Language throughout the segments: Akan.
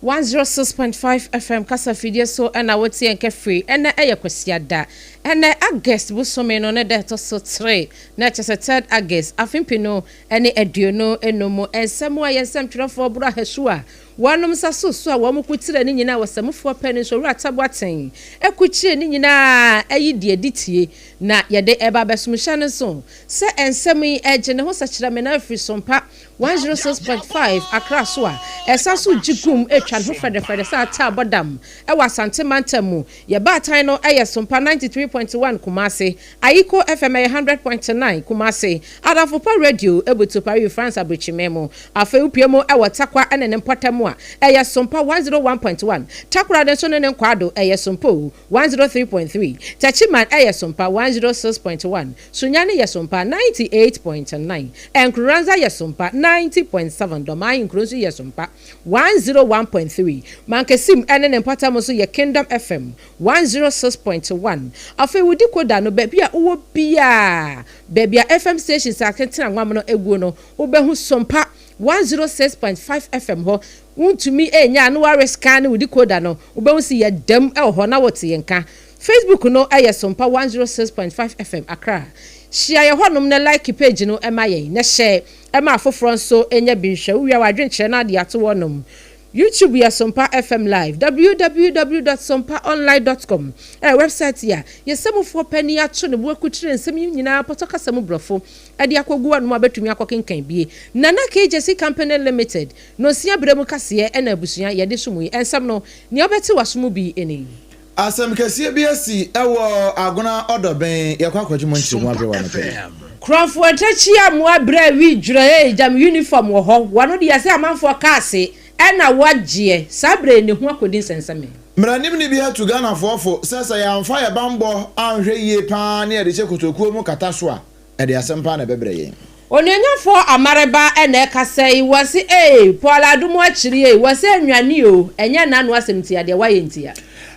One zero six point five FM kasa fidie so na wotie yɛn kɛ firi ɛnɛ ɛyɛ kwasiada ɛnɛ August bosome no ne da ɛtɔ so tre na kyɛ sɛ third August afe mpenu ne aduonu enum mu nsɛm a yɛn nsɛm twerɛfoɔ Boro Ahasu a wɔnom nsa so so a wɔn ko tire ne nyinaa wɔ Samufoɔ pɛ ne nso Owura Tabo Aten ɛko kyire ne nyinaa ɛyi deɛ di tie na yɛde ɛba abɛsom hyɛ no nso sɛ nsɛm yi ɛgye ne ho sɛ kyerɛ me na afiri so mpa one zero six point five Accra so a ɛsan so gye gum twa ne ho fɛdɛfɛdɛ sɛ ata a ɛbɔ dam wɔ Asante mantam mu. Yɛn baatan no yɛ Sompa ninety three point one Kumasi, Ayiko FM yɛ hundred point nine Kumasi, Adamfopa Radio butu Paris France aburokyimɛ mu. Afei wopue mu wɔ Takwa ne ne mpɔtam a ɛyɛ Sompa one zero one point one, Takoradi nso ne ne nkwaado yɛ Sompo one zero three point three, Techiman yɛ Sompa one zero six point one, Sunya no yɛ so mpa, ninety eight point nine, Nkurunranza yɛ so mpa, ninety point seven, Dɔm Ahenkuro nso yɛ so mpa, one zero one point three, Mankasim ne ne mpɔtam nso yɛ Kingdom FM, one zero six point one. Afei wo decoder no baabi a wowɔ biara, baabi a FM stations a tentena nwam no guo no, wobɛhu so mpa, one zero six point five FM hɔ. Wontumi nnya a na woarescanne wo decoder no, wobɛhu se yɛdam wɔ hɔ na wote yɛn nka. Facebook no yɛ Sompa one zero six point five FM Accra. Hyia yɛn hɔnom na like page no ma yɛn, na hyɛ ma afoforɔ nso nya bi nhwɛ. Wowie a w'adwenkyerɛ no ade ato hɔnom. YouTube yɛ Sompa FM Live, www dot sompa online dot com yɛ wɛbsaete a yɛsɛ mufoɔ panin ato ne bo akukyire nsɛm yi nyinaa pɔtɔ kasa mu brɔfo de akɔgu w'anom a wobɛtumi akɔkenkan bie. Nana KJC Company Limited, Nonsia berɛ mu kaseɛ na abusua yɛde so mu yi nsɛm no, nea wobɛte w'aso mu bi nie. Asɛm kɛseɛ bi asi wɔ Agona ɔdɔ bɛn yɛ kɔ akɔgye mo nkyeremu abrɛ wa anɔpa yi. Krɔnfoɔ tɛkyi a mo abrɛ wi dwerɛ ee gyam uniform wɔ hɔ wano deɛ sɛ amanfoɔ cars ɛna wa gyeɛ saa brɛ ne ho akɔdi nsɛnsɛmee. Mmaranim ni bi atu Ghanafoɔ fo sɛ sɛ yɛanfa yɛ banbɔ anhwɛ yie paa ne yɛde hyɛ kotokuo mu kata so a, Ɛde asɛmpa na ɛbɛbrɛ yɛn. Onuonyamfoɔ Amare ba na ɛka sɛ yi, wɔse ee, Paul Adumu akyiri ee, wɔse ɛnwane oo, ɛnyɛ nnanu asɛm ntia, deɛ wayɛ ntia.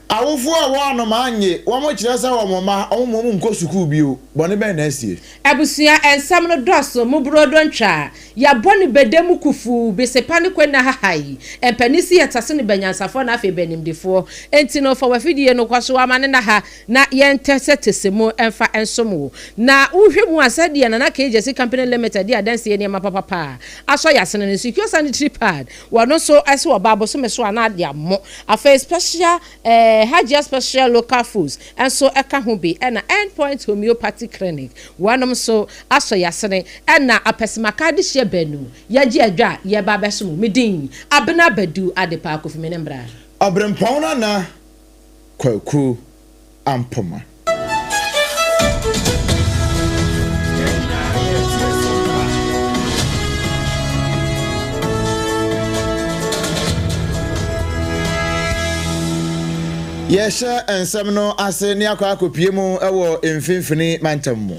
Awofoɔ a wɔn anomaa nnye, wɔn kyerɛ sɛ wɔn mma, wɔn mma wɔn nkɔ sukuu bio, bɔne bɛn na asie? Abusua nsɛm no dɔɔso, mo boroodo ntwa, yɛabɔ ne bɛdɛ mu kufuu, besepa ne kwanna hahae, mpanin se yɛtase ne bɛnyansafoɔ na afei bɛnimdefoɔ, enti no fa w'afidie no kɔ so, wama ne nna ha. na yɛntɛ sɛ tese mu mfa nsom wo. Na wohwɛ mu a, sɛdeɛ Nana KJC Company Limited de adansie nneɛma papapa a asɔ yɛ asene no nso, Ikio Sanitary Pad, wɔno nso se wɔba bosome so a na ade ammo. Afei Special eh, Hajia Special Local Foods nso ka ho bi, ɛna End Point Homeopathy Clinic, wɔnom nso asɔ yɛ asene, ɛna Apesemaka Adehyeɛ Banu, yɛagye adwa a yɛreba abɛsom wo. Me din, Abena Badu Adepa, Kofi Mene Mbra. Ɔberempɔn no anaa? Kwaku Ampoma. Yɛhyɛ nsɛm no ase ne akɔ akɔpue mu wɔ Mfimfini Mantam mu.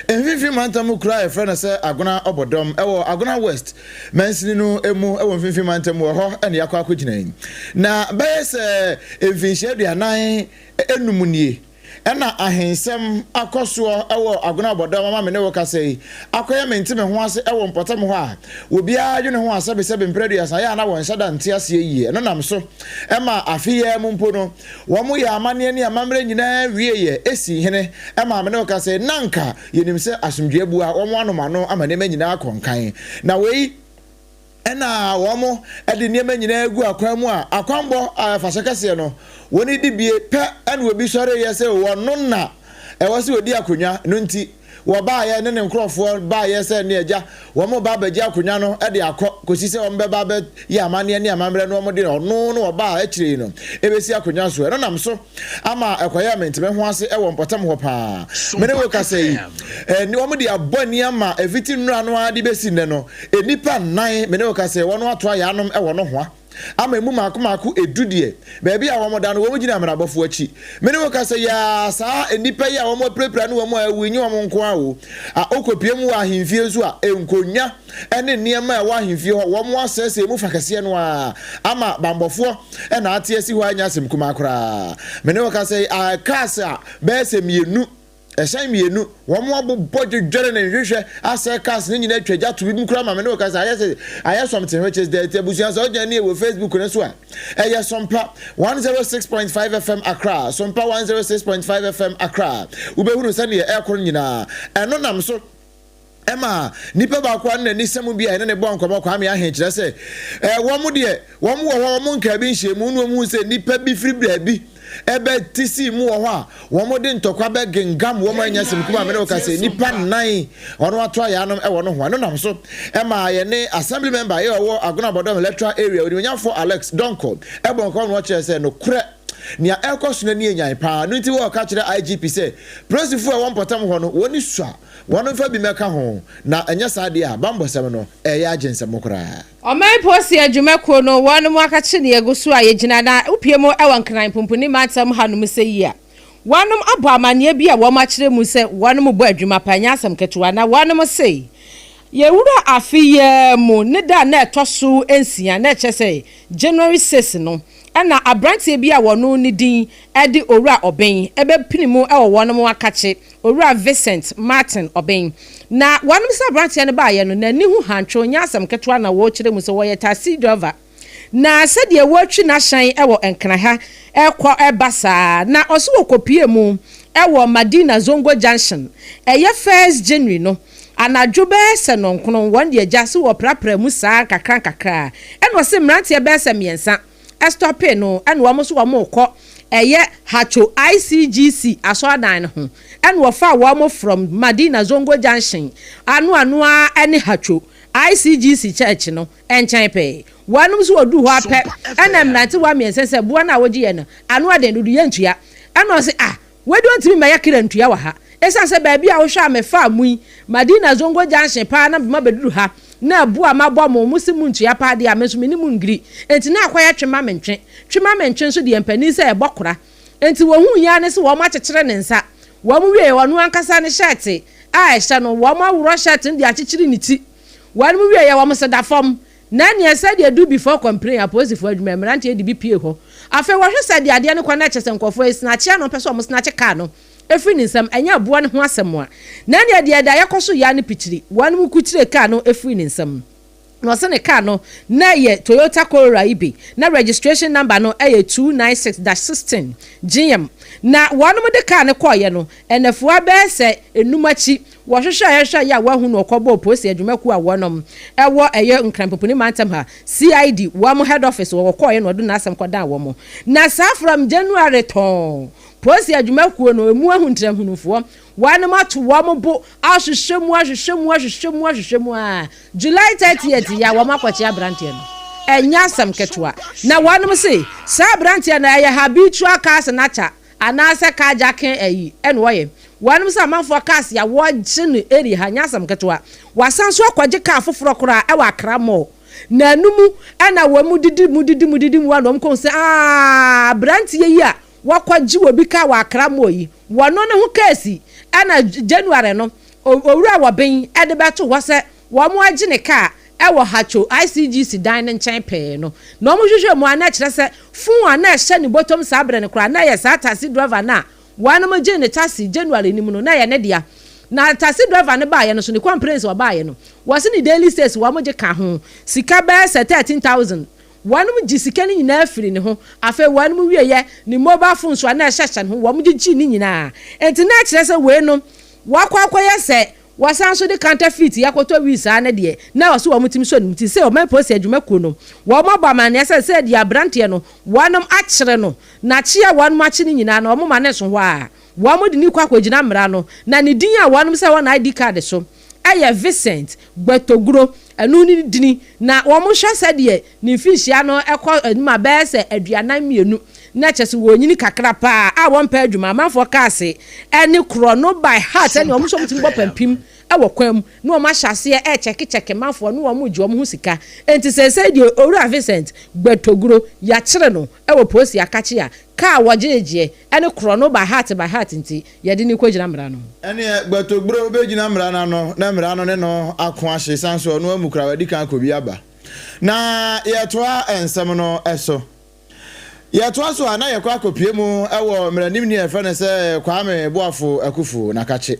Mfimfini mantam mu kuro a yɛfrɛ no sɛ Agona Ɔbɔdɔm, ɛwɔ Agona West mansini no mu wɔ mfimfini mantam mu, ɛhɔ na yɛakɔ akɔgyina yi. Na bɛyɛ sɛ mfinhyia aduanan nnum nie na ahensɛm akɔ soɔ wɔ Agona Ɔbɔdɔm ama me ne wo kasa yi akɔyɛ mente me ho ase wɔ mpɔtam hɔ a obiara dwene ho a sɛbesɛbe mprɛ aduasa yɛ a na wɔnhyɛ da nte aseɛ yie. Ɛno nam so ma afe yi ara mu mpo no, Wɔyɛɛ amanneɛ ne amammerɛ nyinaa wieeɛ. Esi hene maa me ne ɔka sɛ, Na anka yɛnim sɛ asomdwoeɛ abu a wɔanom ano ama nneɛma nyinaa akɔ nkan. Na wei na wɔde nneɛma nyinaa agu akwan mu a akwammɔ a ɛfa so kɛseɛ no, wɔn dibie pɛ na obi sɔreeɛ sɛ ɔno na ɛwɔ sɛ ɔdi akonnwa no nti. Wɔbaeɛ ne ne nkurɔfoɔ baeɛ sɛ ne agya, wɔreba abɛgye akonnwa no de akɔ, kɔsi sɛ wɔbɛba abɛyɛ amanneɛ ne amammerɛ no wɔde ɔno ne wɔbaa akyire yi no bɛsi akonnwa so. Ɛno nam so ama ɛkɔyɛɛ me ntɛm ho ase wɔ mpɔtam hɔ pa ara. Me ne wo rekasa yi, wɔde abɔ ani ama ɛfiti nnora no ara de bɛsi nnɛ no, nnipa nnan, me ne wo rekasa yi, wɔato ayaanom wɔ nohoa. ama emu mmaako mmaako edu deɛ, baabi a wɔda no, wɔgyina mmenabɔfoɔ akyi. Me ne wo ka sɛ, yɛa, saa nnipa yi a wɔapirapira ne wɔn a awu yi nyɛ wɔn nko ara o. A Wokɔpue mu wɔ ahemfie nso a, nkonnwa ne nneɛma a ɛwɔ ahemfie hɔ, wɔasɛesɛe mu fa kɛseɛ no ara ama bammɔfoɔ na ate asi hɔ a ɛnyɛ asɛm kumaa koraa. Me ne wo ka sɛ, a ɛkaase a bɛyɛ sɛ mmienu Ɛhyɛn mmienu, wɔn abobɔ dwedwere ne nhwehwɛ asɛe cars no nyinaa atwa gya to binom koraa ma me ne wo kasa ayɛ sɛ ayɛ something which is dirty abusua sɛ wogyina nie wɔ Facebook no so a ɛyɛ Sompa 106.5 FM Accra Sompa 106.5 FM Accra wobɛhunu sɛdeɛ ɛrekɔ no nyinaa ɛno nam so Ɛma nipa baako a na n'anisɛm bi a yɛne ne bɔɔ nkɔmmɔ, Kwame Ahen, kyerɛ sɛ wɔn deɛ wɔn wɔ hɔ a wɔnkaa bi nhyɛɛ mu na wɔhuu sɛ nnipa bi firi baabi bɛ te sii mu wɔ hɔ a wɔde ntɔkwa bɛ gengam wɔn anya sɛ mekuma me ne wo ka sɛ nnipa nnan wɔn ato ayaanom wɔ nohoa. Ɛno nam so ma yɛne Assembly Member a ɔwɔ Agona Bodom Electoral Area, Onimuonyamfoɔ Alex Donkor bɔɔ nkɔmmɔ na ɔkyerɛɛ sɛ nokorɛ nea ɛrekɔ so no ani yɛ nyan paa. Ɛno nti wɔreka kyerɛ IGP sɛ polisifoɔ a ɛwɔ mpɔtam hɔ no wɔn ani sua. Wɔmfa bi mmɛka ho, na ɛnyɛ saa deɛ a, bammɔsɛm no, ɛyɛ agyensɛm koraa. Ɔman Polisi Adwumakuo no wɔn mu akakye ne yɛgu so a yɛgyina na wopue mu wɔ Nkran Pumpuni Mantam ha nom sɛ yi a wɔnom abɔ amaneɛ bi a wɔnom akyerɛ mu sɛ wɔnom bɔ adwuma pa ɛnyɛ asɛm ketewa na wɔnom se yɛwura afe yi ara mu ne da a na ɛtɔ so nsia na ɛkyerɛ sɛ January 6 no Ɛnna aberanteɛ bi a wɔno ne din de Owura Ɔben bɛpene mu wɔ wɔnom akakye, Owura Vincent Martin Ɔben. Na wɔnom sɛ aberanteɛ no baeɛ no, n'ani ho hantwe, ɔnyɛ asɛm ketewa na wɔkyerɛ mu sɛ wɔyɛ taxi driver. Na sɛdeɛ wɔatwi n'ahyɛn wɔ Nkran ha rekɔ reba saa, na ɔse wɔkɔpuee mu wɔ Madina Zongo Junction, ɛyɛ First January no, Anadwo bɛyɛ sɛ nnɔnkron, wɔn de agya se wɔprapra mu saa nkakrankakra, ɛna ɔse mmeranteɛ bɛyɛ sɛ mmiɛnsa stɔpee no, ɛna wɔn nso wɔn rekɔ ɛyɛ Haco ICGC asɔredan no ho, ɛna wɔfaa wɔn from Madina Zongo Junction ano ano ara ɛne Haco ICGC church no nkyɛn pɛɛ. Wɔnom nso wɔduu hɔ ara pɛ, ɛna mmerantewa mmiɛnsa se boɔ no a wogyeɛ no, ano ɛden dodo yɛntua, ɛna ɔse ah, Wei deɛ ɔntumi mmɛyɛ kra ntua wɔ ha ɛsiane sɛ baabi a wohwɛ a mefaa mo yi, Madina Zongo Junction paa na mema bɛduru ha na abu a mabɔ mo, mose montua paa deɛ a me nso mene mo ngiri enti na akɔyɛ twe ma me ntwe. Twe ma me ntwe nso deɛ mpanin sɛ ɛbɔ kora enti wɔhuui ara ne sɛ wɔn akyekyere ne nsa. Wɔn wieeɛ ɔno ankasa ne hyɛɛte a ɛhyɛ no wɔn aworɔ hyɛɛte no de akyekyere ne ti. Wɔnom wieeɛ wɔn se da fam Na nea ɛsɛ deɛ do before complain apolisifoɔ adwuma mmeranteɛ de bi pue hɔ afei wɔhwe sɛ deɛ adeɛ no kɔ no ɛkyɛ sɛ nkurɔfoɔ ɛsnakye a na wɔpɛ sɛ wɔn snakye car no ɛfiri ne nsam ɛnyɛ aboa no ho asɛm a na nea deɛ ɛdaeɛ kɔ so yɛ a no pikyiri wɔn mo kukyire car no ɛfiri ne nsam na wɔse ne car no na ɛyɛ Toyota Corolla yi bi na registration number no ɛyɛ 296-16 gm na wɔn mo de car no kɔɔeɛ no ɛnɛfoa bɛyɛ sɛ ɛnum akyi Wɔhwehwɛɛ hwehwɛɛ yɛ a wɔanhu no ɔkɔbɔɔ polisi adwuma kuo a wɔnom ɛwɔ ɛyɛ Nkran Popuni mantam ha, CID, wɔn head office hɔ, wɔkɔɔeɛ na ɔde n'asɛm kɔdaa wɔn. Na saa from January tɔɔn polisi adwuma kuo no ɛmu ahu ntiranhunufoɔ, wɔnom ato wɔn bo ahwehwɛ mu ahwehwɛ mu ahwehwɛ mu ahwehwɛ mu aa July 30th yɛ a wɔn akɔkye abranteɛ no. Ɛnyɛ asɛm ketewa. Na wɔnom se saa abranteɛ no ɛyɛ habitual car snatcher, Anaasɛ carjacking ayi na wɔyɛ. Wɔnom sɛ amanfoɔ cars ya wɔgye no area ha nyɛ asɛm ketewa. Wɔasan nso akɔgye car foforɔ koraa wɔ Accra mall. Naanu mu na wɔn didi mu didi mu didi mu a na wɔn kɔhu sɛ aah abranteɛ yi a wɔkɔgye obi car wɔ Accra mall yi wɔno ne ho case na January no owura Wɔben de bɛto hɔ sɛ Wɔagye ne kaa wɔ Hacho ICGC dan no nkyɛn pɛɛ no, na wɔhwehwɛɛ mu a na ɛkyerɛ sɛ fon a na ɛhyɛ ne bɔtɔm saa bere no koraa na ɛyɛ saa taxi driver no a wɔnom gyee no taxi January no mu no na ɛyɛ ne dea. Na taxi driver no baeɛ no nso, ne complaints a ɔbaeɛ no, wɔse ne daily sales wɔgye ka ho sika bɛyɛ sɛ thirteen thousand. Wɔnom gye sika no nyinaa firii ne ho. Afei wɔnom wieɛ, ne mobile phone nso a na ɛhyɛ hyɛ no ho, wɔgye gyee ne nyinaa. Enti na ɛkyerɛ sɛ weinom wɔakɔ akɔyɛ sɛ Wɔsan nso de counterfeit yɛ kɔtɔ wii saa ne deɛ na wɔse wɔn tumi sɔ ne mu ti. Sɛ ɔman polisi adwuma kuo no wɔn abɔ amaneɛ sɛ sɛ deɛ abranteɛ no wɔn akyere no na kye a wɔn akye no nyinaa no wɔn ma no nso hɔ a wɔn de no kɔ akɔ gyina mmara no na ne din a wɔn sɛ wɔ na ID card so ɛyɛ Vincent Gbetoguro ɛno ne ne dini na wɔn hwɛ sɛdeɛ Ne mfirihyia no kɔ anim a bɛyɛ sɛ aduanan mmienu, na kyerɛ sɛ wɔnyini kakra paa a wɔmpɛ adwuma. Amanfoɔ kaa se ɛne korɔ no by heart sɛnea wɔn nso wɔtumi bɔ pampim wɔ kwan mu na wɔn ahyɛ aseɛ rekyɛkekyɛke manfoɔ ne wɔn gye wɔn ho sika. Enti seesei deɛ Owura Vincent Gbetoguro yɛakyere no wɔ Posi Akakye a kaa a wɔgyegyeɛ ɛne korɔ no by heart by heart nti yɛde no rekɔgyina mmara no. Ɛneɛ Gbetogburo bɛgyina mmara no ano na mmara no ne no ako ahye sane nso ɔno amu koraa wadi kan akɔ bi aba. Na yɛtoa nsɛm no so. Yɛtoa so a na yɛkɔ akɔpue mu wɔ mmaranimni a yɛfrɛ no sɛ Kwame Boafo Akufu Nakakye.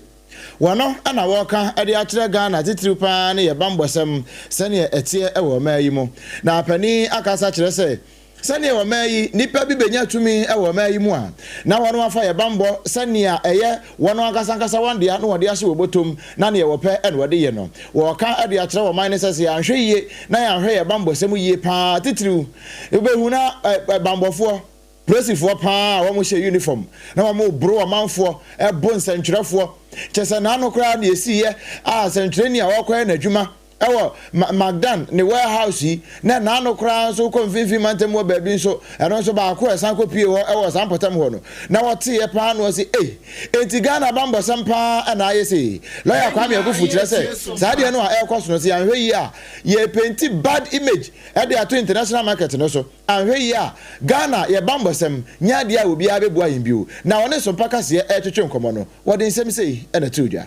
Wɔno na wɔka de akyerɛ Ghana titiriw pa ara ne yɛn bammɔsɛm sɛdeɛ ɛteɛ wɔ ɔman yi mu. Na panin akasa kyerɛ sɛ Sɛnea ɔman yi nnipa bi benya tumi wɔ ɔman yi mu a, na wɔafa yɛn bammɔ sɛ nea ɛyɛ wɔn ankasa ankasa wɔn dea na wɔde ahyɛ wɔn bɔtɔm na nea wɔpɛ na wɔde yɛ no. Wɔreka de akyerɛ ɔman no sɛ sɛ yɛanhwɛ yiye na yɛanhwɛ yɛn bammɔsɛm yiye pa ara a, titiriw wubehu na bammɔfoɔ, polisifoɔ pa ara a wɔhyɛ unifɔm na wɔboro ɔmanfoɔ, bo nsɛntwerɛfoɔ, kyerɛ sɛ n'ano koraa na esiiɛ a sɛntwerɛni a ɔrekɔyɛ n'adwuma Ɛwɔ Ma Magdan ne Warehouse yi, na ɛna ano koraa nso wokɔ Mfinimfini Mantam wɔ baabi nso, ɛno nso baako a ɛsan kɔpuee hɔ wɔ saa mpɔtam hɔ no, na wɔteeɛ pa ara na wɔse, Ei! Enti Ghana bammɔsɛm pa ara na ayɛ sei? Lɔya Kwame Akufu kyerɛ sɛ, saa adeɛ no a ɛrekɔ so no, sɛ yɛanhwɛ yie a, yɛrepenti bad image de ato international market no so. Anhwɛ yie a, Ghana, yɛn bammɔsɛm nyɛ adeɛ a obiara bɛbua yɛn bio. Na wɔne Sompa Kaseɛ retwetwe nkɔmmɔ no, wɔde nsɛm sei na ɛtoo dwa.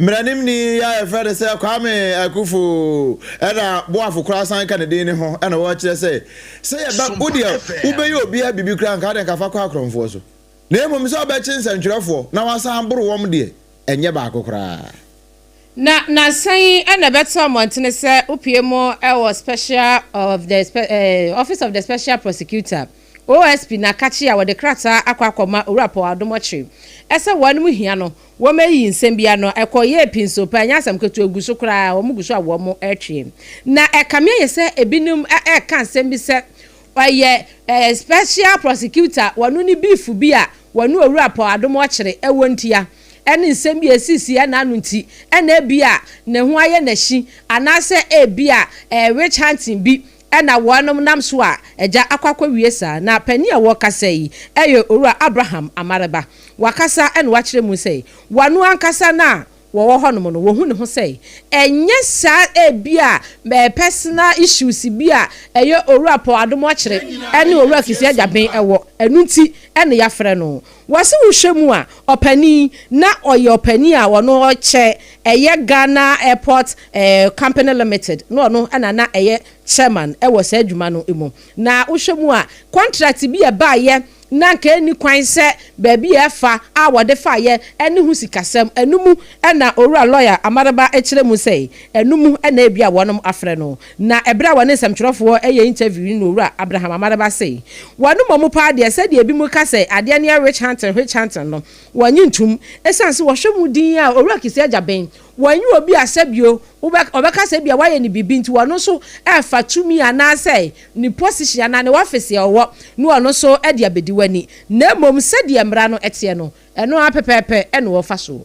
Mmaranimni yi a yɛfrɛ no sɛ Kwame Akuffo na Boafo koraa san ka ne din no ho na wɔkyerɛ sɛ, sɛ yɛba wo deɛ wobɛyɛ obiara biribi koraa nka wode nka fa kɔ akorɔmfoɔ so, na mmom sɛ wobɛkye nsɛntwerɛfoɔ na woasan aboro wɔn deɛ, ɛnyɛ baako koraa. Na nnansa yi na ɛbɛtoo mmɔntene sɛ wopue mu wɔ Special of the Office of the Special Prosecutor, OSP Nakakye a wɔde krataa akɔ akɔma Owura Paul Adomor Kyere ɛsɛ wɔn anom hia no wɔn ayi nsɛm bi ano ɛkɔ yɛɛ pii nso paa ɛnyɛ asɛm ketewa egu so koraa wɔn gu so a wɔn ɛretwee na ɛkame ayɛ sɛ ebinom ɛreka nsɛm bi sɛ ɔyɛ eh, special prosecutor wɔn ne beef bi a wɔn ne Owura Paul Adomor Kyere ɛwɔ ntia ɛne nsɛm bi a esisi ɛna ano nti ɛna ebi a ne ho ayɛ n'akyi anaasɛ ebi a eh, witch hunting bi Ɛna wɔnom nam so a agya akɔ akɔwie saa na panin a ɔwɔ kasa yi ɛyɛ Owura Abraham Amareba. Wakasa na wakyerɛ mu sɛ wɔno ankasa no a wɔwɔ hɔnom no wɔhu ne ho sɛ ɛnyɛ saa ebi a personal issues bi a ɛyɛ Owura Paul Adom Ɔkyere ɛne Owura Fifi Agyaben ɛwɔ ɛno nti ɛna yɛafrɛ no. Wɔse wohwɛ mu a ɔpanin yi na ɔyɛ ɔpanin a ɔno ɔkyɛ ɛyɛ Ghana Airport Company Limited na ɔno na na ɛyɛ Chairman wɔ saa adwuma no mu. Na wohwɛ mu a contract bi a ɛbaeɛ na nka ɛnni kwan sɛ baabi a ɛfa a wɔde faeɛ ɛne ho sikasɛm ɛno mu na Owura Lawyer Amaraba kyerɛ mu sɛ ɛno mu na ebia wɔnom afrɛ no Na ɛberɛ a wɔne nsɛmtwerɛfoɔ reyɛ interview no na Owura Abraham Amaraba sei, Wɔn mmɔmu paa deɛ sɛdeɛ ebinom ka sɛ adeɛ no yɛ witch hunting, witch hunting no, wɔnnye ntom. Ɛsiane sɛ wɔhwɛ mu dinn ara, Owura Kissi Agyabeng, wɔnyɛ obi a sɛbio wobɛ, ɔbɛka sɛ ebia wayɛ no biribi nti ɔno nso refa tumi anaasɛ ne position anaa ne office a ɔwɔ no ɔno nso de abɛdi w'ani. Na mmom sɛdeɛ mmara no teɛ no, ɛno ara pɛpɛɛpɛ na ɔrefa so.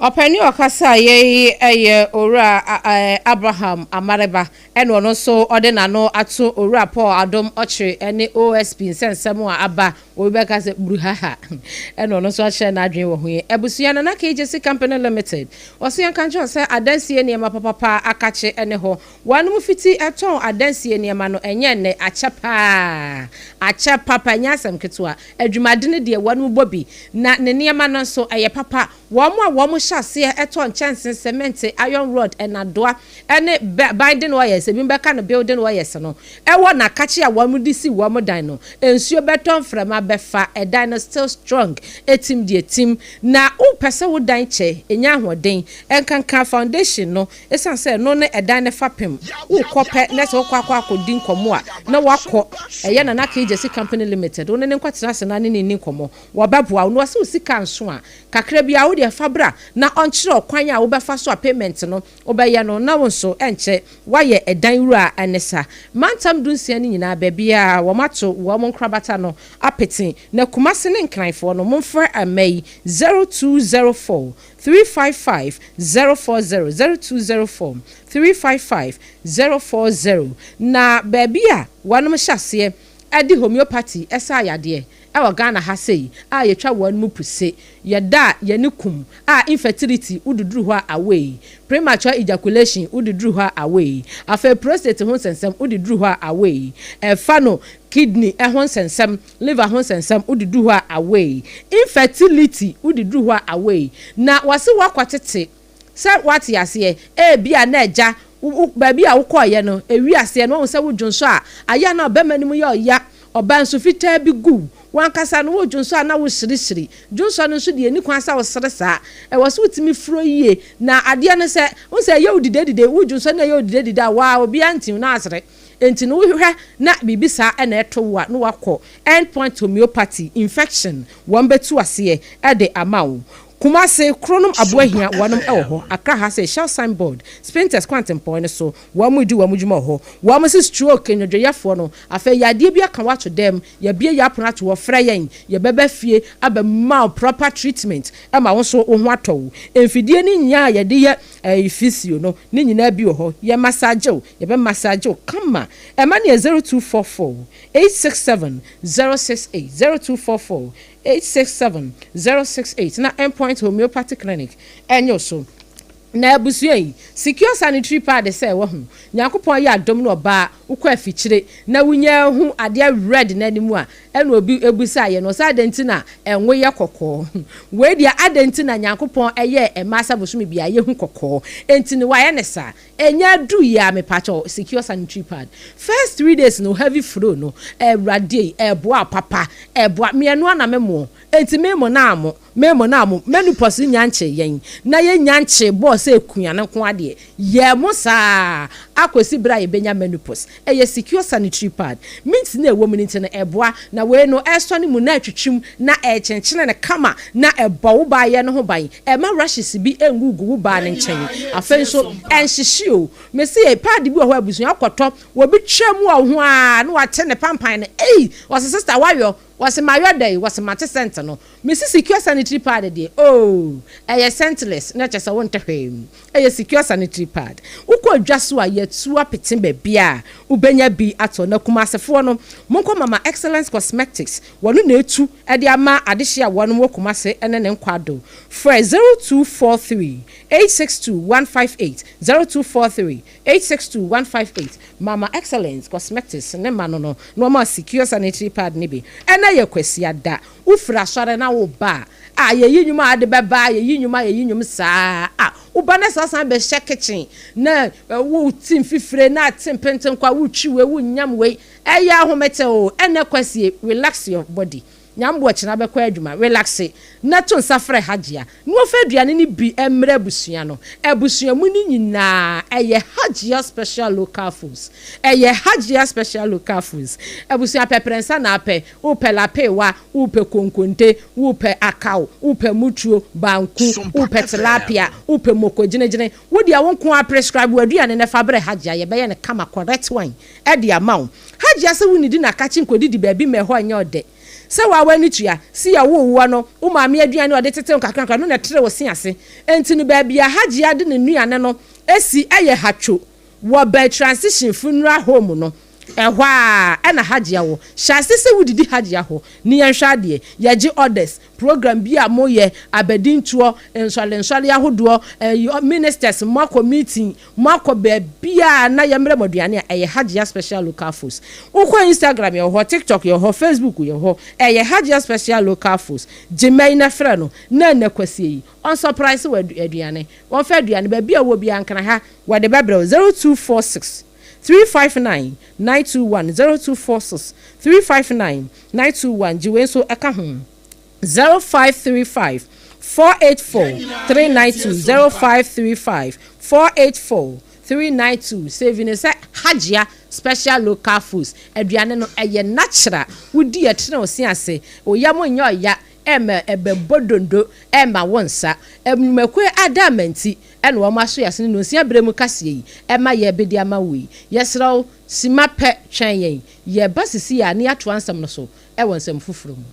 Ɔpɛ ne ɔkasa a yei yɛ Owura Abraham Amareba ɛna ɔno nso ɔde n'ano ato Owura Paul Adom Ɔkyere ɛne OSP nsɛnsɛm a aba obi bɛka sɛ bruhaha ɛna ɔno nso akyerɛ n'adwene wɔ ho yi. Abusua Nana KJC Company Limited ɔse yɛnka nkyerɛ wo sɛ adansie nneɛma papapa akakye ɛne hɔ. Wɔnom fiti tɔn adansie nneɛma no ɛnyɛ nnɛ, akyɛ paa, akyɛ papa, ɛnyɛ asɛm ketewa, adwumadene deɛ wɔnom bɔ bi, na ne nneɛma no nso ɛyɛ papa, wɔnom a wɔnom hyɛ aseɛ tɔ nkyɛnsee, cement, iron rod, nnadoa, ne binding oils, ebinom bɛka no building oils no, ɛwɔ nakakye a wɔnom de si wɔnom dan no, nsuo bɛtɔ, mframa bɛfa, ɛdan no still strong, ɛtim deɛ ɛtim, na wo pɛ sɛ wo dan kyɛ, ɛnya ahoɔden, ɛnkanka foundation no, Esiane sɛ ɛno ne ɛdan no fapem, wokɔ pɛ na sɛ wokɔ akɔ akɔdi nkɔmmɔ a, na woakɔ ɛyɛ Nana Kay Gyasi Company Limited, wo ne no nkɔtena ase na ne no nni nkɔmmɔ. Wɔbɛboa wo. Na wɔse wo sika nso a, kakra biara wo deɛ fa bra na ɔnkyerɛ wo kwan a wobɛfa so a payment no wobɛyɛ no na wo nso ɛnkyɛ woayɛ ɛdan wura ne sa. Mantam dunsia no nyinaa baabiara wɔato wɔn nkorabata no apete. Na Kumasi ne Nkranfoɔ no, momfrɛ mma yi, 0204. Three five five zero four zero zero two zero four three five five zero four zero Na baabi a wɔnom hyɛ aseɛ ɛde homeopathy ɛsa ayadeɛ ɛwɔ Ghana ha sei a yɛtwa wɔn mu puse yɛda yɛne kum a infertility wo de duru hɔ a away premature ejaculation wo de duru hɔ a away afei prostate ho nsɛnsɛm wo de duru hɔ a away ɛfa no kidney ɛho nsɛnsɛm liver ho nsɛnsɛm wode du hɔ a away, infertility wode du hɔ a away, na wɔse woakɔ tete sɛ woate aseɛ ebi a na agya wo baabi a wokɔɔyɛ no ɛwi aseɛ no wahu sɛ wo dwonsɔ a ayɛ a na ɔbɛma no mu yɛ ɔya ɔba nsu fitaa bi gu wankasa no wo dwonsɔ a na wo hyiri hyiri dwonsɔ no nso deɛ ɛni kwan sɛ wo sere saa ɛwɔ sɛ wotumi furo yie na adeɛ no sɛ wo sɛ ɛyɛ wo didedide wo dwonsɔ no ɛyɛ wo didedide a waa obiara ntiw na asere. Enti no wohwehwɛ na biribi saa na ɛto wo a na woakɔ Endpoint Homeopathy, Infection wɔn bɛtu aseɛ de ama wo. Kumase, Kronom Aboahia wɔnom wɔ hɔ, Accra ha sei, Shell Sign Board, Spintex Kwantempɔn no so wɔnom di wɔnom dwuma wɔ hɔ. Wɔnom se stroke nnwodwoyɛfoɔ no afei yadeɛ bi aka wo ato dɛm, yɛabue yɛn apono ato hɔ, frɛ yɛn, yɛbɛba fie abɛma wo proper treatment ma wo nso wo ho atɔ wo. Mfidie no nyinaa a yɛde yɛ Ɛyɛ physio no ne nyinaa bi wɔ hɔ yɛ massage o yɛbɛ massage wo kama ɛma no yɛ zero two four four eight six seven zero six eight zero two four four eight six seven zero six eight na endpoint homeopathy clinic ɛnyɛ wo so na abusua yi secure sanitary pad sɛ wahu nyankopɔn ayɛ adom no ɔbaa wokɔ afikyire na wonya ahu adeɛ red na anim a Ɛna obi bisaeɛ no sɛ, Adɛn nti na ngo yɛ kɔkɔɔ? Wei deɛ, adɛn nti na Nyankopɔn yɛɛ mmaa sɛ bosome biara yɛhu kɔkɔɔ? Enti no wayɛ no saa? Ɛnyɛ aduru yi ara, mepakyɛ wo, secure sanitary pad. First three days no, heavy flow no, Awurade ei, ɛboa papa, ɛboa. Me, ɛno ara na memo. Enti memo na amo. Me mo no a mo menopause no nyankyee yɛn na yɛn nyankyee bɔɔ sɛ akua no nko ara deɛ, yɛn mo saa ara akɔsi berɛ a yɛbɛnya menopause. Ɛyɛ secure sanitary pad. Mint no a ɛwɔ mu no nti no, ɛboa. Na wei no, ɛsɔ ne mu na ɛtwetwem na ɛkyenkyene no kama na ɛbɔ wo baa yɛ no ho ban. Ɛmma rashes bi nngugu wo baa no nkyɛn. Afei nso, ɛnhyehye o. Me se yɛ pad bi wɔ hɔ a abusua wokɔtɔ, obi twa mu wɔ wo ho ara na wate ne pampan no, ei! Ɔse, Sister, woayɔ. Wɔse mayɔ dɛn? Wɔse mate sɛnt no. Me se secure sanitary pad deɛ oo, ɛyɛ scentless, na kyerɛ sɛ wonte hwee. Ɛyɛ secure sanitary pad. Wokɔ dwa so a, yɛatu apete baabiara a wobɛnya bi atɔ. Na Kumasefoɔ no, monkɔ Mama Excellence Cosmetics, wɔno na atu de ama adehye a wɔnom wɔ Kumase ne ne nkwado. Frɛ zero two four three eight six two one five eight, zero two four three. Eight six two one five eight Mama Excellence Cosmetics ne ma no no nnoɔma a secure sanitary pad no bi. Ɛnɛ yɛ Kwasiada. Wo firi asɔre na wo ba a, a yɛyi nnwom a ade bɛba a, yɛyi nnwom a yɛyi nnwom saa a, wo ba na saa san bɛ hyɛ kitchen na wo ti mfifire na te mpenten kɔ a, wo twi wei, wo nyam wei. Ɛyɛ ahomete o. Ɛnɛ Kwasie, relax your body. Nyambo akyina bɛkɔ adwuma relaxe na to nsa frɛ Hajia na ɔfa aduane no bi mmrɛ abusua no. Abusua mu no nyinaa ɛyɛ Hajia special local foods. Ɛyɛ Hajia special local foods. Abusua pɛ prɛnsa na apɛ, wopɛ lapeewa, wopɛ konkonte, wopɛ akaw, wopɛ mutuo, banku, wopɛ tilapia, wopɛ moko gyene gyene, wo deɛ wo nkoaa prescribe w'aduane no fa brɛ Hajia yɛbɛyɛ no kama correct one. de ama wo. Hajia se wo nnidi na kakye nkɔdidi baabi ma ɛhɔ nyɛ ɔdɛ. Sɛ woa w'ani tua, si a wowoo woa no, wo maame aduane a ɔde tete wo kakra kakra no na ɛtere wo se ase. Enti no baabi a Hajia de ne nnuane no si yɛ Hatcho wɔ Bai Transition Funeral Home no, ɛhɔ ara na Hajia wɔ. Hyɛ ase sɛ wodidi Hajia hɔ ne yɛnhwɛ adeɛ. Yɛgye orders. Program bi a moyɛ, abadintoɔ, nsɔrensɔre ahodoɔ, ɛyi, ministers, moakɔ meeting, Moakɔ baabiara a na yɛmmrɛ mo aduane a, ɛyɛ Hajia Special Local Foods. Wokɔ Instagram yɛwɔ hɔ, TikTok yɛwɔ hɔ, Facebook yɛwɔ hɔ, ɛyɛ Hajia Special Local Foods. Gye mma yi na frɛ no na ɛnnɛ kwasie yi ɔnsɔpraese wo aduane. Wɔmfa aduane baabi a wowɔ biara nkra ha, wɔde bɛbrɛ wo 0246 359 921, 0246 359 921, gye wei nso ka ho. Zero five three five four eight four three nine two zero five three five four eight four three nine two save no sɛ Hajia special local foods aduane no ɛyɛ natural wodi ɛtene wo se ase wo yam nyɛ ɔya ɛma ɛbɛbɔ dondo ɛma wo nsa nnwumakuo ada ama nti ɛna wɔn aso yɛase no nonsia berɛ mu kaseɛ yi ɛma yɛbede ama wo yi yɛsrɛ wo sima pɛ twɛn yɛn yɛba sisi a na yɛatoa nsɛm no so Wɔ nsɛm foforo mu.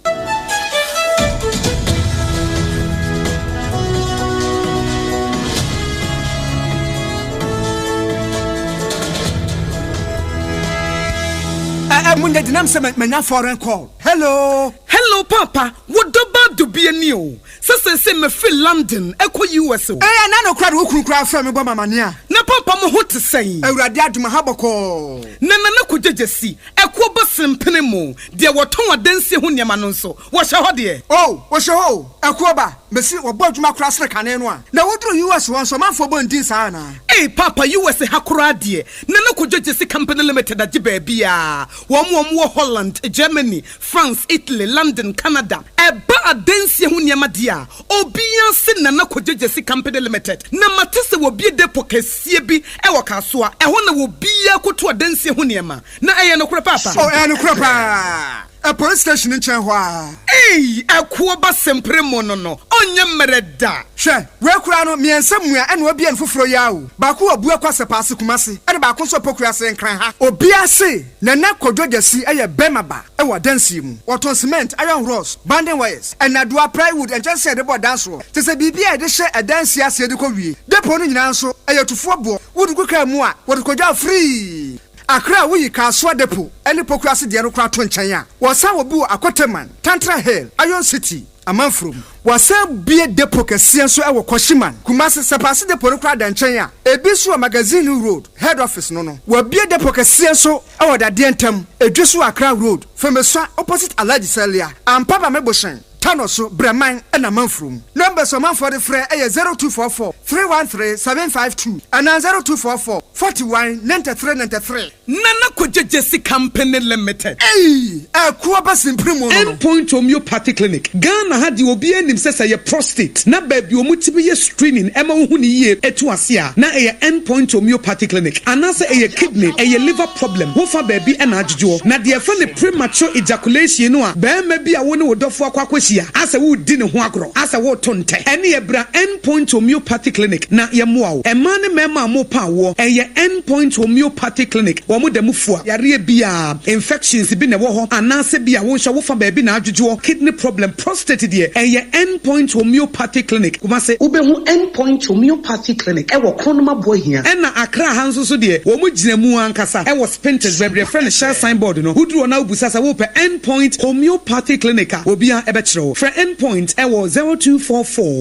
Ɛɛ, monyɛ denam sɛ manya foreign call. Hello! Hello, Paapa, wo dɔbaa dubie nie o. Sɛ seesei mefiri London rekɔ US. o. Eɛ na nokorɛ de wo kunu koraa frɛ me bɔ me amaneɛ a. Na papa mo ho te sɛn? Awurade adom aha bɔkɔɔ. Na Nana Kogya Gyasi, ɛkoɔ bɔ sene mpene mo, deɛ wɔtɔn adansie ho nneɛma no nso, wɔhyɛ hɔ deɛ? Oo, wɔhyɛ hɔ o, ɛkoɔ ba. Mese wɔbɔ adwuma koraa sene kane no a. Na woduru US hɔ nso, ɔmanfoɔ bɔ ndin saa anaa? Ei papa, US ha koraa deɛ, Nana Kogya Gyasi Company Limited agye baabiara. Wɔn a wɔwɔ Holland, Germany, France, Italy, London, Canada, ɛba adansie ho nneɛma deɛ a, obiara se Nana Kogyegyesi Company Limited. Na mate sɛ wɔbue depot kɛseɛ bi wɔ Kasoa, ɛhɔ na obiara kɔtu adansie ho nneɛma. Na ɛyɛ nokorɛ paapa? Oh, ɛyɛ nokorɛ paa. Police station nkyɛn hɔ ara. Ei, ɛkoɔ ba sempere mo no no, ɔnyɛ mmerɛ da. Hwɛ, wei koraa no, mmiɛnsa mua ɛna wɔabue no foforɔ yi ara o. Baako wɔ Abuo Akwasɛpɛ ase, Kumasi, ɛna baako nso wɔ Poku ase, Nkran ha. Obiara se Nana Kwadwo Gyasi yɛ bɛrima ba wɔ adansie mu. Ɔtɔn cement, iron rods, banding wires, nnadoa, plywood, nkyɛnsee a yɛde bɔ dan soɔ, te sɛ biribi a yɛde hyɛ adansie aseɛ de kɔ wie. Depot no nyinaa nso, ɛyɛ tufoɔ boɔ. Wode gu kaa mu a, wɔde kɔgyaw firii. Accra a woyi Kasoa Depot ne Poku ase deɛ no koraa to nkyɛn a, wɔsan wɔ bi wɔ Akoteman, Tantra Hill, Iron City, Amanfro mu. Wɔasan abue depo kɛseɛ nso wɔ Kwashiman, Kumasi, Sapase depo no koraa da nkyɛn a ebi nso wɔ Magazine Hill Road, Head Office no no. Wɔabue depo kɛseɛ nso wɔ Dadeɛ Ntam, Edwe so wɔ Accra Road, Femesua opposite Alhaji Salia, Ampa Bame Boshen, Tano so, Breman na Amanfro mu. Numbers a ɔmanfoɔ de frɛ yɛ 0244 313 752 anaa 0244 41 93 93. Nana Kɔgyegye Sika Mpene Limited. Ei! Ɛko aba sen pere mu no no. Endpoint Homeopathy Clinic. Ghana ha deɛ obiara nim sɛ sɛ ɛyɛ prostate na baabi wɔtumi yɛ screening ma wohu no yie tu ase a, na ɛyɛ Endpoint Homeopathy Clinic. Anaasɛ ɛyɛ kidney, ɛyɛ liver problem, wo fa baabi na adwodwoɔ. Na deɛ yɛfrɛ no premature ejaculation no a barima bi a wo ne wo dɔfoɔ akɔ akɔhyia asɛ woredi ne ho agorɔ, asɛ woreto ntɛ, ɛneɛ bra End. Point Homeopathy Clinic na yɛmmoa wo. Mmaa ne mmarima a morepa awoɔ, ɛyɛ End Point Homeopathy Clinic, wɔn da mu fua yareɛ biara, infections bi na ɛwɔ hɔ anaasɛ bi a wonhwɛ wo fa baabi na adwodwoɔ, kidney problem, prostate deɛ, ɛyɛ End Point Homeopathy Clinic, Kumasi. Wobɛhu End Point Homeopathy Clinic wɔ Kronoma Buahia. Ɛna Accra ha nso so deɛ, wɔn gyina mu ankasa wɔ Spintex baabi yɛfrɛ no Shell Sign Board no, woduru hɔ na wobisa sɛ worepɛ End Point Homeopathy Clinic a, obiara bɛkyerɛ wo. Frɛ End Point wɔ zero two four four.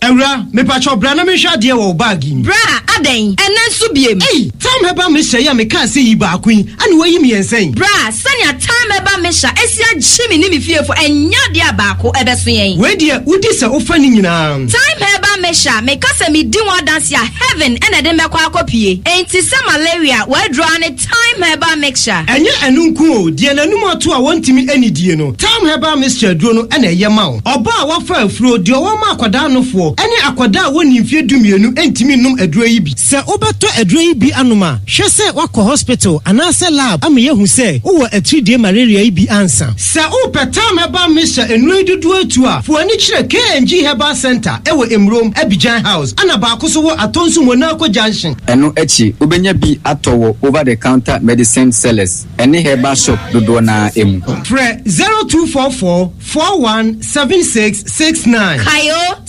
Awura, mepakyɛw bra na menhwɛ adeɛ wɔ wo bag yi mu. Bra, adɛn, ɛnnɛ nso biem? Ei, Tam Herbal Mixture yi a mekaa sɛ yi baako yi, ɛna woayi me yɛn sɛn? Bra, sɛnea Tam Herbal Mixture asi agye me ne me fiefo, ɛnyɛ adeɛ a baako ɛbɛso yɛn. Wei deɛ, wodi sɛ wofa ne nyinaa. Tam Herbal Mixture, meka sɛ medi ho adanse a, heaven na ɛde me bɛkɔ akɔpue. Enti sɛ malaria w'aduru ara ne. Thyme Herbal Mixture. Ɛnyɛ ɛno nko o, deɛ n'anum ato a wɔntumi nnidie no, Thyme Herbal Mixture aduro no na ɛyɛ ma wo. Ɔbaa a wafa afuro, deɛ ɔwɔ ma akwadaa nofoɔ, ne akwadaa a wɔnnii mfeɛ dumienu ntumi nnom aduro yi bi. Sɛ wobɛtɔ aduro yi bi anom a, hwɛ sɛ woakɔ hospital anaasɛ lab ama yɛahu sɛ wowɔ atiridie malaria yi bi ansa. Sɛ wo pɛ tam herbal mixture nnuro yi dodoɔ atu a, fo ani kyerɛ KNG Herbal Centre ɛwɔ Emurom, Abidjan House, ɛna baako so wɔ Atonsu Monaco Junction. Ɛno akyi, wobɛnya bi atɔ wɔ over the counter medicine sellers ɛne herbal shop dodoɔ no ara mu. Frɛ zero two four four four one seven six six nine. Kayo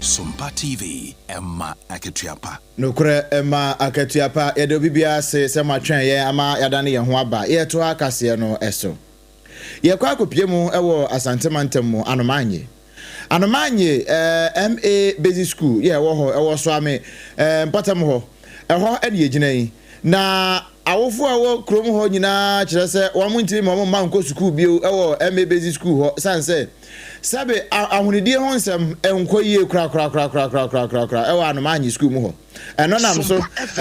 Sompa TV, ɛma akatua pa. Nokorɛ, ɛma akatua pa. Yɛda obibiara ase sɛ moatwɛn yɛn ama yɛadane yɛn ho aba yɛretoa kaseɛ no so. Yɛrekɔ akɔpue mu wɔ Asante mantam mu, Anomaanye. Anomaanye eh, MA Basic School yɛ ɛwɔ hɔ, ɛwɔ Soame eh, mpɔtam hɔ. Ɛhɔ ne yɛgyina yi. Na awofoɔ a ɛwɔ kurom hɔ nyinaa kyerɛ sɛ wɔn ntumi ma wɔn mma nkɔ sukuu bio wɔ MA Basic School hɔ sane sɛ sɛbe ahonidie ho nsɛm nkɔ yie korakorakorakorakorakorakorakoraa wɔ Anomaanye School mu hɔ. Ɛno nam so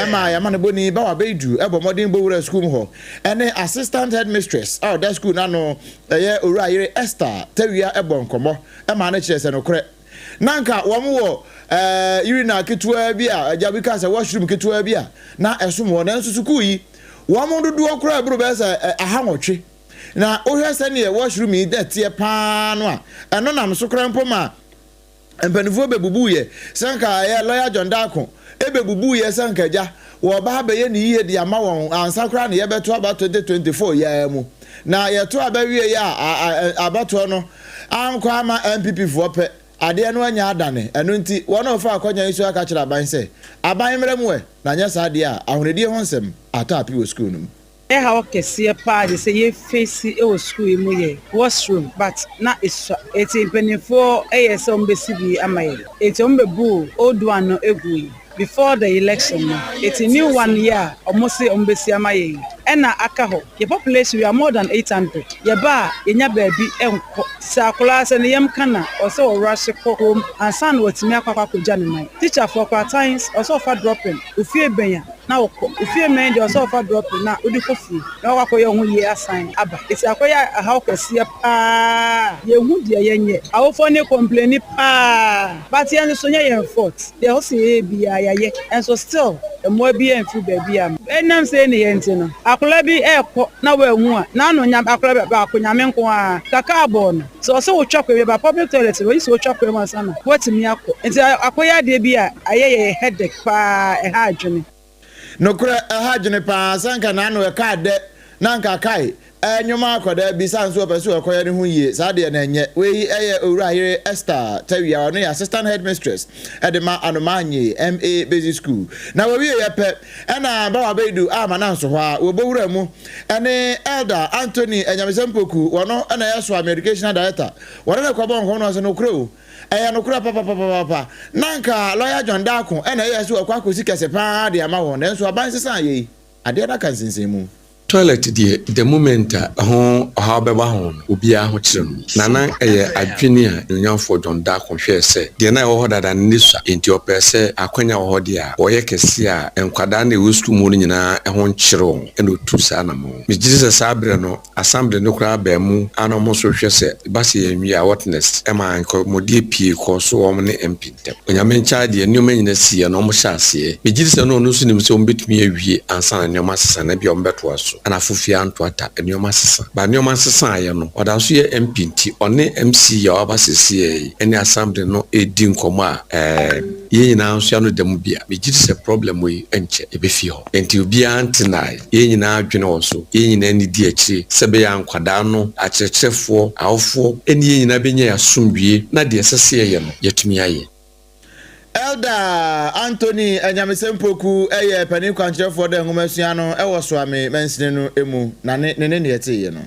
ma yɛma no boni ba wɔ Abeidu, bɔ mmɔden bɔ wura sukuu mu hɔ, ɛne Assistant Headmistress a ɔda sukuu no ano, ɛyɛ Owura Ayere Esther Tawia bɔ nkɔmmɔ ma no kyerɛ sɛ nokorɛ na anka wɔn wɔ urinal ketewaa bi a agya bi kaa sɛ washroom ketewaa bi a na ɛsom wɔn nanso sukuu yi wɔn dodoɔ koraa boro bɛyɛ sɛ aha nwɔtwe na wohwɛ sɛdeɛ washroom yi dɛteɛ paa no a ɛno nam so koraa mpo ma Mpanimfoɔ bɛbubuiɛ sɛ anka ɛyɛ lɔya John Darko bɛbubuiɛ sɛ anka agya wɔreba ha bɛyɛ ne yie de ama wɔn ansa koraa na yɛbɛto aba 2024 yi ara mu. Na yɛto aba wieeɛ a abatoɔ no ankɔ ama NPPfoɔ pɛ, adeɛ no anya adane. Ɛno nti wɔn a wɔfa akwannya yi so aka akyerɛ aban sɛ, Aban mmra mu ɛ, na anyɛ saa deɛ a ahonidie ho nsɛm atɔ ape wɔ sukuu no mu. Nea ɛhaw kɛseɛ paa de sɛ yɛ face wɔ sukuu yi mu yɛ wash room but na esua enti mpaninfoɔ yɛ sɛ wɔn bɛsi bi ama yɛn enti wɔn bɛ buu old one no gui before the election no enti new one yi a wɔn se wɔn bɛsi ama yɛn yi ɛna aka hɔ yɛ population we are more than eight hundred yɛ ba a yɛ nya baabi nkɔ sɛ akwadaa sɛ ne yam ka na ɔwɔ sɛ wɔ rush kɔ home ansa na watumi akɔ akɔ akɔ gya ne nan teacher foɔ koraa times ɔwɔ sɛ ɔfa dropping ofie bɛn a. na ɔkɔ ofie mmɛn deɛ ɔsɛ ɔfa drɔpe na wode kɔ fie na wakɔ akɔyɛ ho yie asan aba ɛti akɔyɛ ahaw kɛseɛ paa yɛhu deɛ yɛnyɛ awofoɔ ne kɔmpleni paa but yɛn nso nyɛ yɛn fault deɛ ɔsɛ yɛyɛ biaa yɛayɛ nso still mmoa biaa mfiri baabi amma ɛnam sei nneyɛɛ nti no akwadaa bi ɛɛkɔ na wanhu a n'anonyam akwadaa baako nyame nko ara ka kaa bɔɔ no. Sɛ ɔsɛ wotwa kwan bi ba public toilet no, oye sɛ wotwa kwan mu ansa na woatumi akɔ. Enti akɔyɛ adeɛ bi a ayɛ yɛ headache pa ara, ɛha adwene. Nokorɛ, ɛha adwene pa ara. Sɛ anka n'ano ɛka adɛ na anka kae ɛrenwom akɔ daa bi, saa nso ɔpɛ sɛ ɔkɔyɛ ne ho yie. Saa deɛ na ɛnyɛ. Wei yɛ Owura Yere Esther Tawia, ɔno yɛ Assistant Headmistress de ma Anomaa Nnyee MA Basic School. Na wɔwieeɛ pɛ, Ɛna Bawa Abeidu a Mananso hɔ a wɔ Bowura mu ne Elder Anthony Anyamesɛm Poku, wɔno na ɛyɛ Soame Educational Director, wɔne no kɔbɔɔ nkɔm na ɔse nokorɛ o, ɛyɛ nokorɛ papapapapa, na anka Lawyer John Darko na ɛyɛ sɛ wakɔ akɔsi kɛse paa de ama wɔn, nanso aban sesaa yei, adeɛ no aka nsensɛnmu. Toilet deɛ the moment a ɛho ɔhaw bɛba ho no obiara ho kyere no. Na na ɛyɛ adwene a Onuafoɔ John Darko hwɛɛ sɛ deɛ na ɛwɔ hɔ dada no nni sua nti ɔpɛɛ sɛ akwanya wɔ hɔ deɛ a wɔyɛ kɛseɛ a nkwadaa no a ɛwɔ sukuu mu no nyinaa ho nkyere wɔn ɛna ɔtuu saa anamɔn. Megyedi sɛ saa berɛ no Assembly no koraa baa mu a na wɔn nso rehwɛ sɛ ɛba sɛ yɛnwie a what next ɛmaa nkɔmmɔdie pii kɔɔ so wɔn ne MP. Onyame nkyɛɛ adeɛ, nnoɔma nyina siiɛ na wɔn hyɛɛ aseɛ. Megyedi sɛ na Ɔno nso nim sɛ wɔn bɛtumi awie ansa na nnoɔma asesa anaa ebia wɔn bɛtoa so na afo fie anto ata. Nnoɔma asesa. But nnoɔma nsesaeɛ no, Ɔda so yɛ MP nti Ɔne MC a waba sesei ɛne Assembly no redi nkɔmmɔ a, ɛɛm, yɛn nyinaa nso yɛn ano da mu bi a, megyedi sɛ problem yi nkyɛ, ɛbɛfi hɔ. Enti obiara ntenae. Yɛn nyinaa adwene wɔ so. Yɛn nyinaa ani di akyire sɛ ɛbɛyɛ a nkwadaa no, akyerɛkyerɛfoɔ, awofoɔ, ne yɛn nyinaa bɛnya yɛn asomdwoeɛ na deɛ ɛsɛ sɛ yɛyɛ no, yɛatumi ayɛ. Elder Anthony Anyamesɛm Poku yɛ panin kwankyerɛfoɔ da nwomasua no wɔ Soame mansini no mu, na ne ne ne deɛ ɛteeɛ no.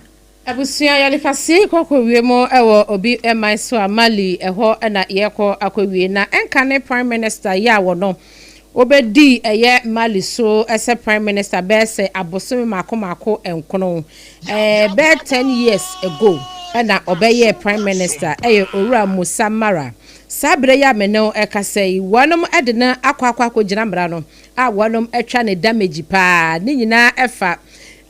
Abusua yɛde fasee kɔ kɔ wie mu wɔ obi man so a Mali ɛhɔ na yɛkɔ akɔ wie na ɛnka ne prime minister yɛ a wɔno wɔbɛdi ɛyɛ Mali so sɛ prime minister bɛyɛ sɛ abosome maako maako nkono ɛɛ bɛyɛ ten years ago na ɔbɛyɛɛ prime minister ɛyɛ owura Musa Mara saa berɛ yi a mene wo ɛkasa yi wɔnom de no akɔ akɔ akɔ gyina mmara no a wɔnom twa ne damage paa ne nyinaa fa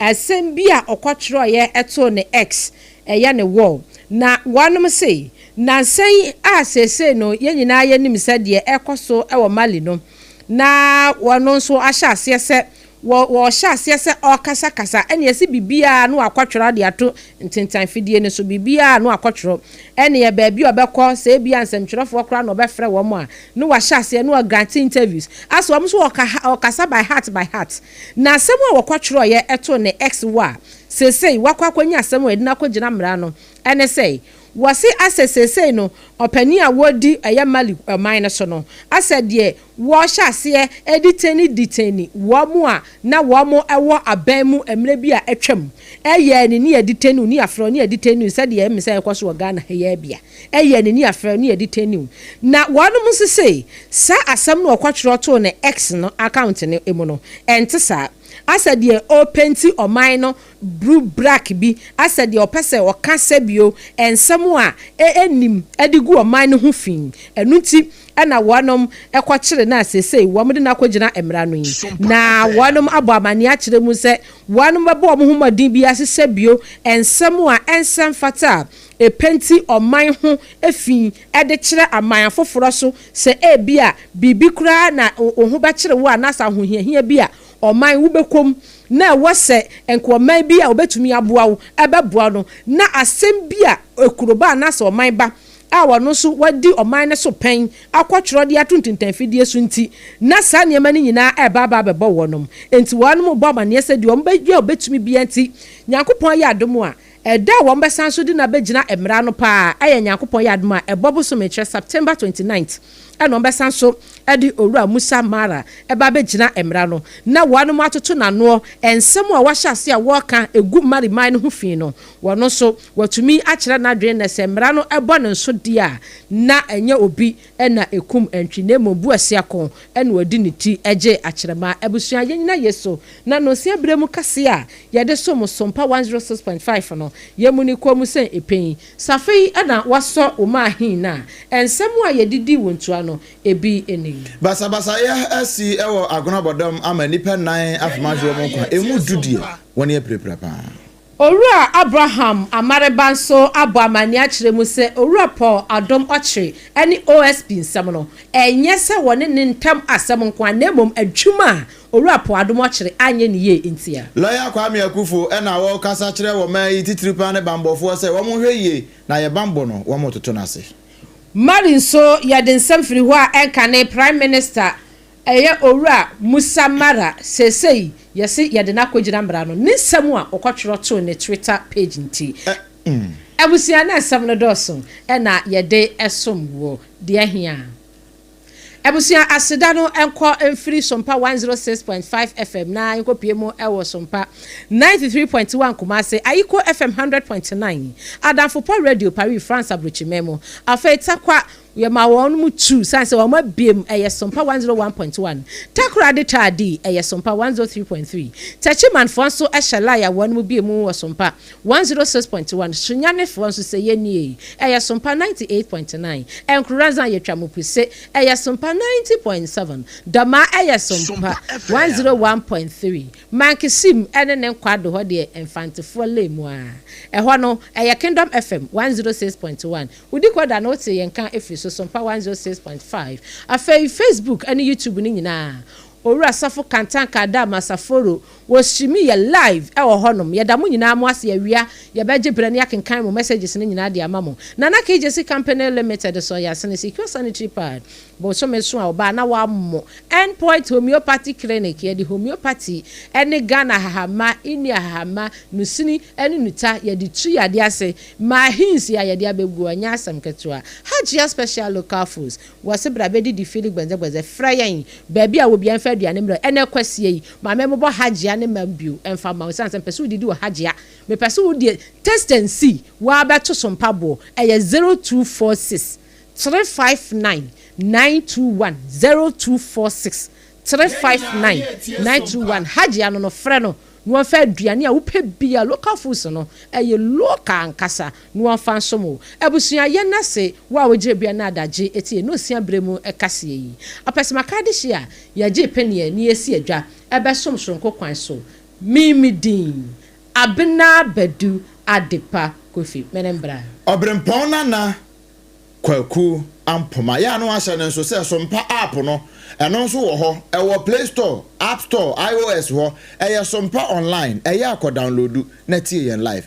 asɛm bi a ɔkɔtwerɛeɛ too ne X, ɛyɛ ne wall, na wɔnom se nansa yi a seesei no yɛn nyinaa yɛnim sɛ deɛ ɛrekɔ so wɔ Mali no na wɔno nso ahyɛ aseɛ sɛ wɔ wɔhyɛ aseɛ sɛ ɔrekasakasa ɛne ɛse biribiara no wakɔtwerɛ de ato ntentan fidie no so, biribiara no akɔtwerɛ ɛne baabi a ɔbɛkɔ sɛ ebia nsɛmtwerɛfoɔ koraa na ɔbɛfrɛ wɔn a No wa hyɛ aseɛ no wa grant interviews as wɔn nso ɔka ɔkasa by heart by heart na asɛm a wɔkɔ twerɛ yɛ ɛto ne ex wo a seesei wakɔ akɔ nya asɛm a yɛde no akɔ gyina mmara no ɛne sɛ wɔse asɛ seesei no ɔpanin a wɔdi ɛyɛ Mali ɔman no so no asɛ deɛ wɔhyɛ aseɛ detain detain wɔn a na wɔn ɛwɔ aban mu mmerɛ bi a atwam ɛyɛ ne ne yɛ detain wo ne yɛ afrɛ wo ne yɛ detain wo sɛdeɛ ɛme sɛ ɛkɔ so wɔ Ghana ha yi bia. Ɛyɛɛ n'ani afrɛ ne ɛde tɛniw. Na wɔnom nso se, saa asɛm no a ɔkɔtwerɛ too ne X no account no mu no, ɛnte saa. Asɛ deɛ ɔrepenti ɔman no bru brak bi, asɛ deɛ ɔpɛ sɛ ɔka sɛbio nsɛm a ɛnnim de gu ɔman no ho fi. Ɛno nti na wɔnom kɔkyere no a seesei wɔde no akɔgyina mmara no yi. Na wɔnom abɔ amanneɛ akyerɛ mu sɛ wɔnom bɛbɔ wɔn ho mmɔden biara se sɛbio nsɛm a ɛnsɛ mfata a Epɛ nti ɔman ho fi de kyerɛ aman afoforɔ so sɛ ebia biribi koraa na wo ho bɛkyere wo anaasɛ ahohiahia bi a ɔman wobɛkɔ mu na ɛwɔ sɛ nka ɔman bi a ɔbɛtumi aboa wo bɛboa no na asɛm bi a akuroba anaasɛ ɔman ba a ɔno nso wadi ɔman no so pɛn akɔtwerɛ de ato ntintanfidie so nti na saa nneɛma no nyinaa reba aba abɛbɔ wɔnom nti wɔnom bɔ amaneɛ sɛ deɛ wɔbɛyɛ a wɔbɛtumi biara nti Nyankopɔn ayɛ adom a Ɛda a wɔbɛsan so de no abɛgyina mmara ano pa ara yɛ Nyankopɔn yɛ adom a, ɛbɔ bosome, kyerɛ September twenty ninth, ɛna wɔbɛsan so de Owura Musa Mara ba abɛgyina mmara ano na wɔanom atoto n'anoɔ nsɛm a wahyɛ aseɛ a wɔreka gu Mali man no ho fi no, ɔno nso watumi akyerɛ n'adwene nnɛ sɛ mmara no bɔ ne nso deɛ a na ɛnyɛ obi na ekum antwi na mmom buasiako na ɔde ne ti gye akyerɛma. Abusua, yennyina Yesu n'anonsia bere mu kɛse a yɛde som so mpa 106.5 no, yemmu ne kɔn mu sɛ epein. Sɛ afei na woasɔ wo mma ahe no a, nsɛm a yɛde dii wo ntua no, ebi ni. Basabasayɛ asi wɔ agonabɔdɔm ama nnipa nnan afom ahwe wɔn nkwa, emu du deɛ, wɔn yɛ pirapira paa. Owura Abraham Amareba nso abɔ amanneɛ akyerɛ mu sɛ Owura Paul Adom Okyere ne OSP nsɛm no, ɛnyɛ sɛ wɔne ne ntam asɛm nko ara na mmom adwuma a Owura Paul Adom Okyere anyɛ no yie ntia. Lɔya Kwame Akuffo na ɔrekasa kyerɛ ɔman yi titiriw paa ne bammɔfoɔ sɛ wɔn nhwɛ yie na yɛ bammɔ no wɔn toto no ase. Mali nso yɛde nsɛm firi hɔ a ɛnkane Prime Minister Ɛyɛ Owura Musa Mara, seesei yɛse yɛde no akogyina mmara no, ne nsɛm a ɔkɔtwerɛ too ne Twitter page nti. Abusua na nsɛm no dɔɔso na yɛde som wo deɛ ahia. Abusua aseda no nkɔ mfiri Sompa 106.5 FM na nkɔpue mu wɔ Sompa 93.1 Kumasi, Ayiko FM 100.9, Adamfopɔ Radio Paris France Abrokyiman mu, afei Tarkwa, Yɛma wɔn mu tu sane sɛ wɔn abiem, ɛyɛ Sompa one zero one point one. Takora de twa adi, ɛyɛ Sompa one zero three point three. Techimanfoɔ nso hyɛ lae a wɔn mu bie mu wɔ Sompa one zero six point one. Sunyanefoɔ nso sɛ yɛnnie, ɛyɛ Sompa ninety eight point nine. Nkoranza yɛ Twamupuse, ɛyɛ Sompa ninety point seven. Dɔmaa ɛyɛ Sompa one zero one point three. Mankesim ne ne nkwado hɔ deɛ Mfantefoɔ lae mu ara. Ɛhɔ no ɛyɛ Kingdom FM one zero six point one. Wudi kɔ da na wote yɛn nka firi so so mpa 106.5. Afei Facebook ne YouTube no nyinaa Owura Sɔfo Kantanka Adam Asaforo wɔ Hyimi yɛ live wɔ hɔ nom. Yɛda mo nyinaa mo ase awia yɛbɛgye berɛ na yɛakenkan mo messages no nyinaa de ama mo. Nana KJC Company Limited so yɛn asene Secure Sanitary Pad bosome so a ɔbaa na wammo End Point Homeopathy Clinic yɛde homeopathy ne Ghana ahahamma, India ahahamma, nusini ne nuta yɛde tu yadeɛ ase Ma ahinsi a yɛde abɛgu hɔ nyɛ asɛm ketewa. Hajia Special Local Foods, wɔ se bra bɛdidi Philly Gbɛndzɛgbɛndzɛ, frɛ yɛn, baabi a obiara mfa aduane mmrɛ wo, ɛnnɛ Kwasia yi, ma memmobɔ Hajia ne mma bio mfa mma wo, ɛsiane sɛ mepɛ sɛ wodidi wɔ Hajia, mepɛ sɛ wodi taste and see, woabɛto so mpaboɔ, ɛyɛ zero two four six, three five nine, nine two one, zero two four six, three five nine, nine two one, Hajia no no, frɛ no. na wɔmfa aduane a wopɛ biara, local foods no, ɛyɛ local ankasa, na wɔmfa nsom wo. Abusua, yɛn ase, wo a wogyina bia na adagye tie na osia berɛ mu kaseɛ yi. Ɔpɛsɛmaka adehyeɛ a yɛgye paneɛ na yɛsi adwa bɛsom soronko kwan so. Me me din, Abena Badu Adepa Kofi. Me ne mbra. Ɔberempɔn Nana Kwaku Ampoma. Yɛ a na wɔahyɛ no nso sɛ Sompa App no, ɛno nso wɔ hɔ. Ɛwɔ Play Store, App Store, IOS hɔ. Ɛyɛ Sompa Online. Ɛyɛ a kɔ downloadu na tie yɛn live.